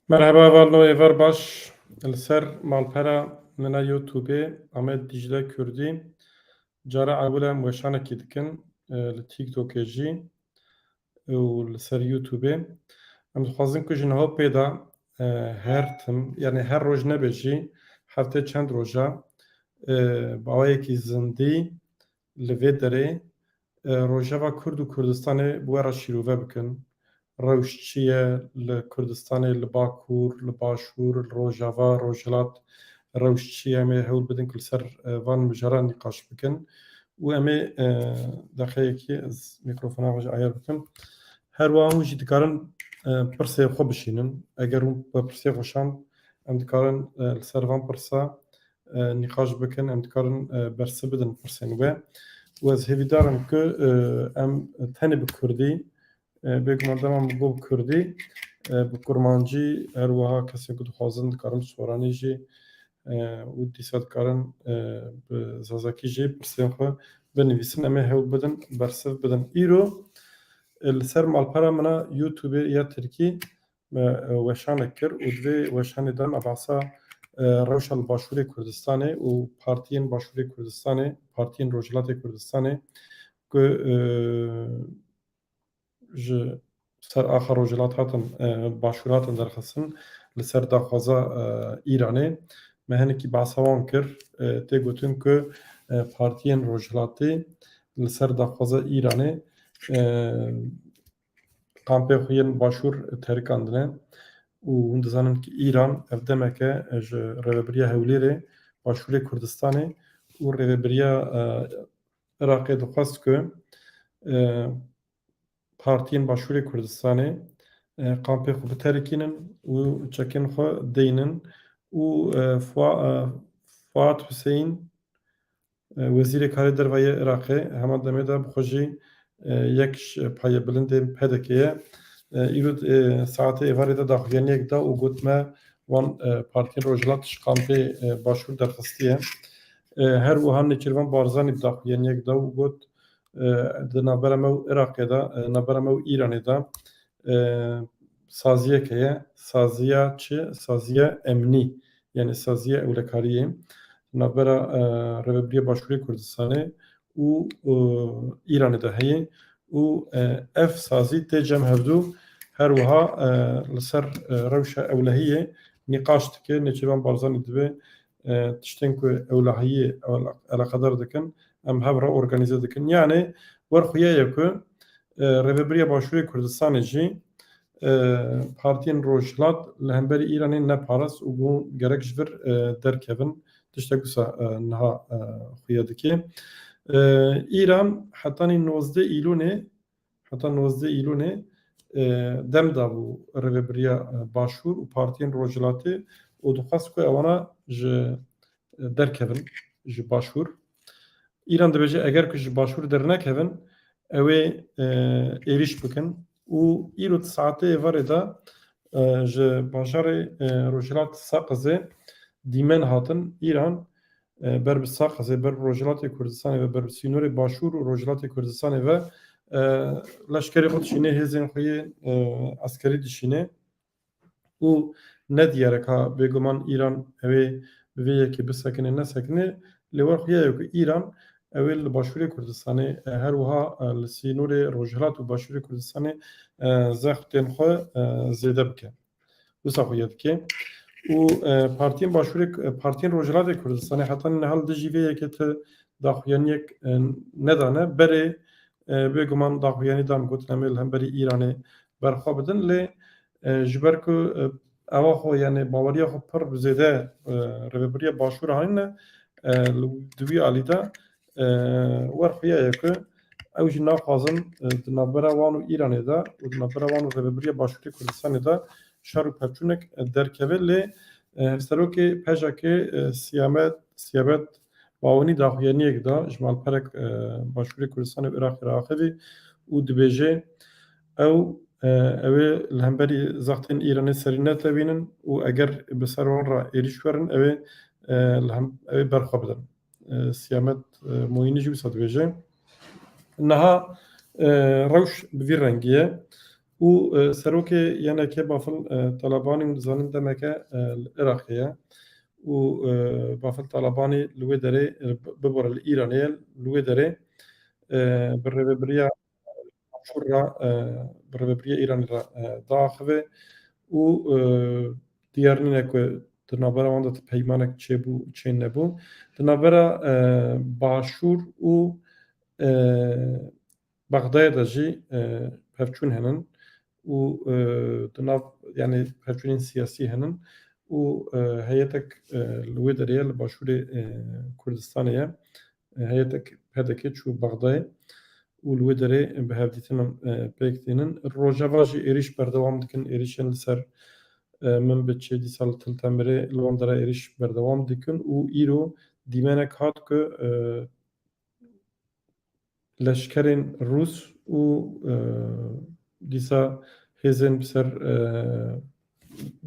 Merheba Valno Êvar baş li ser malpera min a Youtubê Amed Dicle Kurdî cara ewil e em weşanekî dikin li TikTokê jî û li ser Youtubê. Em dixwazin ku ji niha û pê de her tim yanî her roj nebe jî heftê çend roja bi awayekî zindî Li vê derê Rojava Kurd û Kurdistanê bi we re şîrove bikin. Rewş çi ye li Kurdistanê, li Bakur, li Başûr, li Rojava, Rojhilat rewş çi ye? Em ê hewl bidin ku li ser van mijaran nîqaş bikin û em ê deqeyekê ez mîkrofona xwe jî ayar bikim. Her wiha hûn jî dikarin pirsê xwe bişînin. Eger hûn bi pirsê xweşand em dikarin li ser van pirsa nîqaş bikin, em dikarin bersiv bidin pirsên we û ez hêvîdar im ku em tenê bi kurdî bêguman dema min got kurdî bi kurmancî her wiha kesên ku dixwazin dikarin bi soranî jî û dîsa dikarin bi zazakî jî pirsên xwe binivîsin em ê hewl bidin bersiv bidin. Îro li ser malpera min a Youtubê ya Tirkî Me weşanek kir û di vê weşanê de me behsa rewşa li Başûrê Kurdistanê û partiyên Başûrê Kurdistanê, partiyên Rojhilatê Kurdistanê ku ji ser axa Rojhilat hatin Başûr hatin derxistin li ser daxwaza Îranê me hinekî behsa wan kir. Tê gotin ku partiyên Rojhilatê li ser daxwaza Îranê kampê xwe yên başûr terikandine û hûn dizanin ku Îran ev demeke ji Rêveberiya Hewlêrê, Başûrê Kurdistanê û Rêveberiya Iraqê dixwest ku partiyên Başûrê Kurdistanê kampê xwe biterikînin û çekên xwe deynin û Fuat Huseyîn Wezîrê Karê Derve yê Iraqê heman demê de bi xwe jî yek ji payê bilindên PDK'ê ye. Îro saetê êvarê de daxuyaniyek da û got me wan partiyên Rojhilat ji kampê Başûr derxistiye. Her wiha Nêçîrvan Barzanî bi daxuyaniyek da û got di navbera me û Iraqê de, navbera me û Îranê de Saziyek heye, saziya çi? Saziya emnî yanî saziya ewlekariyê di navbera Rêvebirîya Başûrê Kurdistanê û Îranê de heye û ev sazî tê cem hevdû her wiha li ser rewşa ewlehiyê nîqaş dike, Nêçîrvan Barzanî divê tiştên ku ewlehiyê eleqedar dikin Em hev re organîze dikin. Yanî wer xuya ye ku Rêveberiya Başûrê Kurdistanê jî partiyên Rojhilat li hemberî Îranê neparast û got gerek ji vir derkevin. Tiştek wisa niha xuya dike. Îran hetanî nozdeh Îlûnê Heta nozdeh Îlûnê dem dabû Rêvebiriya Başûr û partiyên Rojhilatê û dixwest ku ewana ji derkevin ji Başûr. Îran dibêje eger ku ji Başûr dernekevin ewê êrîş bikin û îro di saetê êvarê de ji bajarê Rojhilat Saqizê dîmen hatin Îran Ber bi Saqezê, ber bi Rojhilatê Kurdistanê ve, ber bi sînorê Başûr û Rojhilatê Kurdistanê ve leşkerê xwe dişînê, hêzên xwe yê eskerî dişînê û ne diyar e ka bêguman Îran ew ê bi vê yekê bisekinê nesekinê lê wer xuya ye ku Îran ew ê li Başûrê Kurdistanê her wiha li sînorê Rojhilat û Başûrê Kurdistanê zextên xwe zêde bike. Wisa xwe yê dike. Û partiyên başûrê partiyên Rojhilatê Kurdistanê heta niha li dijî vê yekê ti daxuyaniyek nedane. Berê bêguman daxuyanî dan gotin em ê li hemberî Îranê berxwe bidin lê ji ber ku ewa xwe yanê baweriya xwe pir zêde Rêveberiya Başûr anîne di wî alî de Wer xuya ye ku ew jî naxwazin di navbera wan û Îranê de û di navbera wan û Rêveberiya Başûrê Kurdistanê de şer û pevçûnek derkeve lê Serokê pejk Siyamet Siyabet Bawenî daxuyaniyek da ji malperek Başûrê Kurdistanê û Iraqê re axivî û dibêje ew ew ê li hemberî zextên Îranê serî netewînin û eger bi ser wan re êrîş werin ew ê li hem ew ê berxwe bidin. Siyamet Moînî jî wisa dibêje, Niha rewş bi vî rengî ye û serokê YNK'ê Bafil Talabanî hûn dizanin demeke li Iraqê ye û Bafil Talabanî li wê derê bibare li Îranê ye li wê derê bi rêvebiriya Başûr re bi Rêvebirîya Îranê re diaxive û diyar nîne ku di navbera wan de ti peymanek çêbû û çê nebû. Di navbera Başûr û Bexdayê de jî pevçûn henin û di nav yanî pevçûnên siyasî henin û heyetek li wê derê ye li Başûrê Kurdistanê ye Heyetek pdk çû Bexdayê û li wê derê bi hevdîtinan pêk tînin. Rojava jî êrîş berdewam dikin. Êrîşên li ser Minbiçê, dîsa li Til Temirê li wan derê êrîş berdewam dikin û îro dîmenek hat ku leşkerên rûs û dîsa hêzên bi ser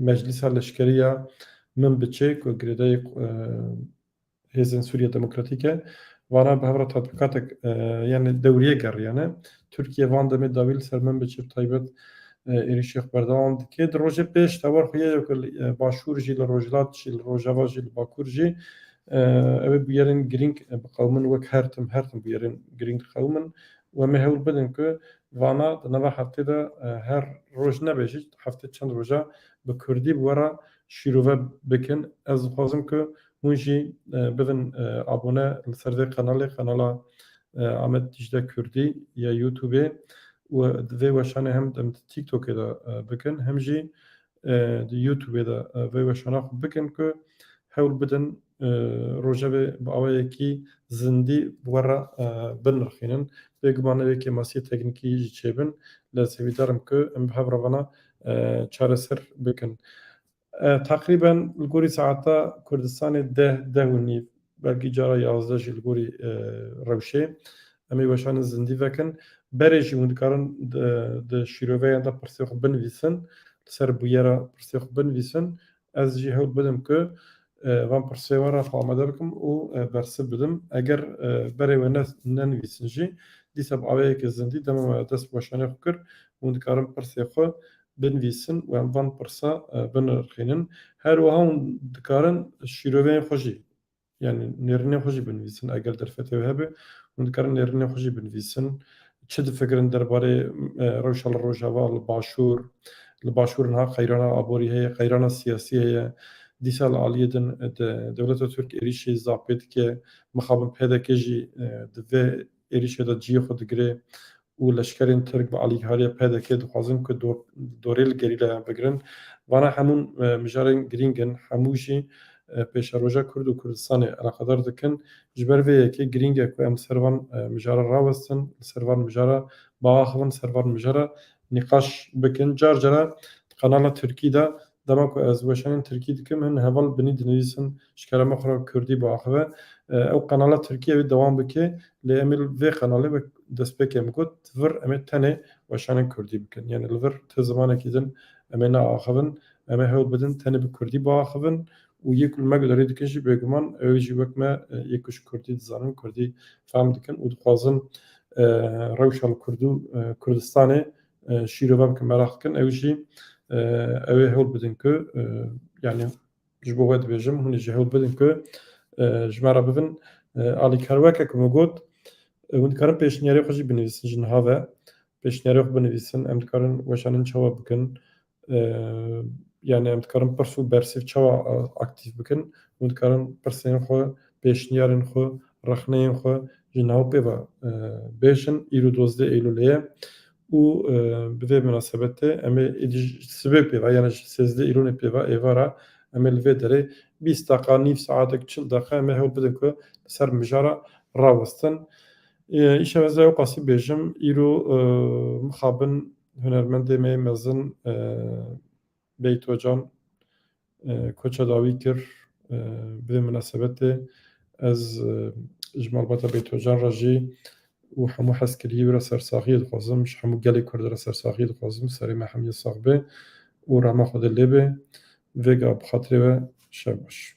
meclîsa leşkerî ya Minbiçê ku girêdayî Hêzên Sûriya Demokratîke vana bi hev re tatbîkatek yên li dewriyê geriyane. Tirkiye van demê dawî li ser Minbicê bi taybet êrîşê xwe berdewam dike. Di rojê pêş tewar xwe ye ku li başûr jî, li rojhilat jî, li rojava jî, li bakur jî ew ê bûyerên girîng biqewimin wek her tim her tim bûyerên girîng diqewimin û em ê hewl bidin ku vana di nava heftê de her roj nebe jî heftê çend roja bi kurdî bi we re şîrove bikin. Ez dixwazim ku Hûn jî bibin abone li ser vê qenalê, qenala Amed Dîcle Kurdî ya Youtubê û di vê weşanê hem dem di TikTokê de bikin hem jî di Youtubê de vê weşana xwe bikin ku hewl bidin rojevê bi awayekî zindî bi we re binirxînin. Bêguman ew yê kêmasiyê teknîkî jî çêbin lê ez hêvîdar im ku em bi hev re vana çareser bikin. Teqrîben li gorî saeta Kurdistanê deh, deh û nîv belkî cara yazdeh jî li gorî rewşê em ê weşanin zindî vekin. Berê jî hûn dikarin di şîroveyan de pirsê xwe binivîsin, li ser bûyera pirsê xwe binivîsin. Ez jî hewl bidim ku van pirsê wan re xwe amade bikim û bersiv bidim. Eger berê we ne nenivîsin jî dîsa bi awayekî zindî dema me dest bi weşanê xwe kir hûn dikarin pirsê xwe binivîsin û em van pirsa binirxînin. Her wiha hûn dikarin şîroveyên xwe jî yanî nêrînên xwe jî binivîsin. Eger derfetê wê hebe hûn dikarin nêrînên xwe jî binivîsin. Çi difikirin derbarê rewşa li rojava, li başûr, li başûr niha qeyrana aborî heye, qeyrana siyasî heye. Dîsa li aliyê din dewleta Tirk êrîşî zapê dike. Mixabin pdk jî di vê. êrîşê de ciyê xwe digire û leşkerên Tirk bi alîkariya PDK'ê dixwazin ku dorê li gerîlayan bigirin. Vana hemû mijarên girîng in, hemû jî pêşeroja Kurd û Kurdistanê eleqedar dikin. Ji ber vê yekê girîng e ku em li ser van mijara rawestin, li ser van mijara biaxivin, li ser van mijara nîqaş bikin. Car cara di kanala Tirkî de Dema ku ez weşanên tirkî dikim hin heval binî dinivîsim ji kerema xwe re kurdî biaxive. Ew qenala tirkî evê dewam bike lê em ê li vê qenalê wek destpêkê em got di vir em ê tenê weşanên kurdî bikin. Yanî li vir ti zimanekî din em ê neaxivin. Em ê hewl bidin tenê bi kurdî biaxivin û yê ku li me guherî dikin jî bêguman ew ê jî wek me yê ku ji kurdî dizanin, kurdî fehm dikin û dixwazin rewşa li Kurd û Kurdistanê Şîrovan ku meraq dikin ew jî ew ê hewl bidin ku yanî ji bo we dibêjim hûn ê jî hewl bidin ku ji me re bibin alî kar weke ku min got hûn dikarin pêşniyarê xwe jî binivîsin ji niha ve pêşniyarê xwe binivîsin em dikarin weşanin çawa bikin Yani em dikarin pirs û bersîv çawa aktîf bikin? Hûn dikarin pirsên xwe, pêşniyarên xwe, rexneyên xwe ji nav pê ve bêjin. Îro dozdeh Eylûlê ye û bi vê minasebetê em ê êdî ji sibê pê ve yani ji sêzdeh Eylûlê pê ve êvara em ê li vê derê bîst deqa, nîv saetek, çil deqa em ê hewl bidin ku li ser mijara rawestin. Îşev ez ê ew qasî bêjim, îro mixabin Hunermendê me mezin Beyt Ocan koça dawî kir. Bi vê minasebetê ez ji malbata Beyt Ocan re jî û hemû hezkiriyê wî re sersaxiyê dixwazim. Ji hemû gelê Kurd re sersaxiyê dixwazim. Serê me hemiyê sax be û rehma Xwedê lê be. Vêga bi xatirê we şev baş.